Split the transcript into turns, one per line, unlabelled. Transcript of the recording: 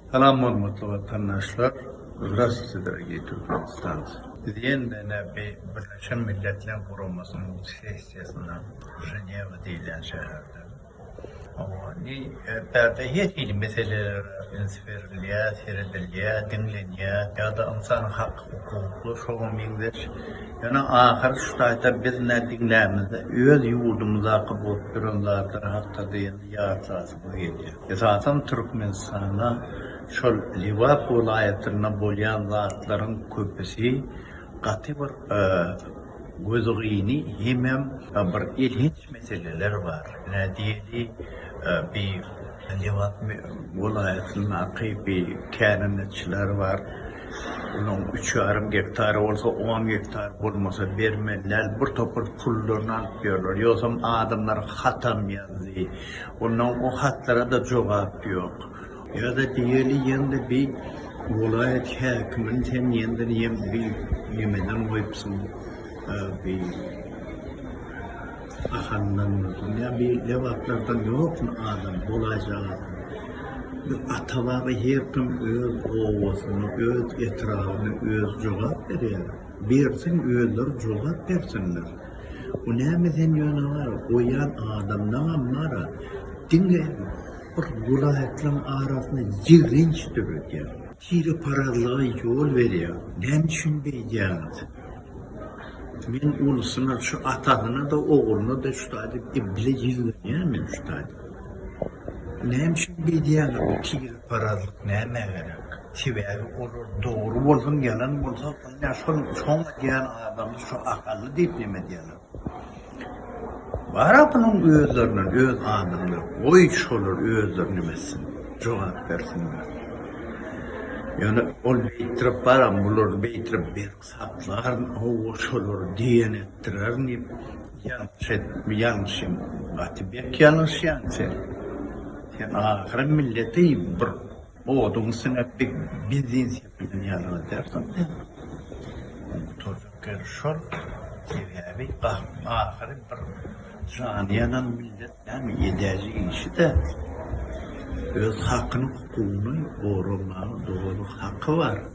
Salam hormatly watandaşlar Zdrastwyte dorogiý Türkmenistancy. Biz ýene-de näbi Birleşen Milletler Guramasynyň sessiýasynda Ženewa diýilýän şäherde. Hawa indi erterde her hili meselelere üns berilýär, seredilýär, diňlenýär ýa-da ynsan hak hukukly şoňa meňzeş. Ýöne ahyr şu taýda biz nä diňlämizde öz ýurdumyzdaky bolup duran zatlar hakda-da ýene ýatlasy gelýär. Esasan Türkmenistanda şol Lebap welaýatynda bolýan zatlaryň köpüsi gaty bir gözgyny hemem bir elhenç meseleler bar. Ine diýeli bi Lebap welaýatyndaky bi kärendeçiler bar. Olaň üç ýarym gektary bolsa on gektar bolmasa bermeliler. Bir topar pullaryny alyp ýörler. Ýogsam adamlar hatam ýazdy. Onda o hatlara da jogap yok. Yada diyeli yende bi wolaýat häkimini sen yende niyem bi nimeden goyupsyň bi ahandan ya bi lebaplardan yokmy adam bolaýjak adam. Ata baba her kim öz obasyny öz etrabyny öz jogap berýär. Bersin özleri jogap bersinler. Bu näme sen ýöne bar goýýan adamdaňam bara diňe bir welaýatlaryň arasyny ýigrenç döredýär. Tire parazlyga ýol berýär. Näme üçin beýdýäňiz? Men ulusyna şu atasyna da ogluna da şuday diýip ibile ýigrenýän men şuday diýip. Näme üçin beýdýäňiz bu tire parazlyk nämä gerek? Sebäbi olar dogry bolsun, ýalan bolsa, ine şol soň edýän adamy şu akylly diýip neme edýärler. Bara bunuň özlerinden öz adamy ýok. Goý şolar özleri neme etsin, jogap bersinler. Ýöne ol beýtirip baram, bular beýtirip berk saklar, owo şolar diýen etdirer diýip ýalňyş et, ýalňyş hem gaty berk ýalňyşýaň sen. Sen ahyry milleti bir Oduň siňip bir biznes ýapylan ýaly bolýar soň sen gutarjak ýeri şol sebäbi gahryň ahyry bir jany ýanan millet näme edäýjek işi-de öz hakyny hukugyny goramaga dogry haky bar.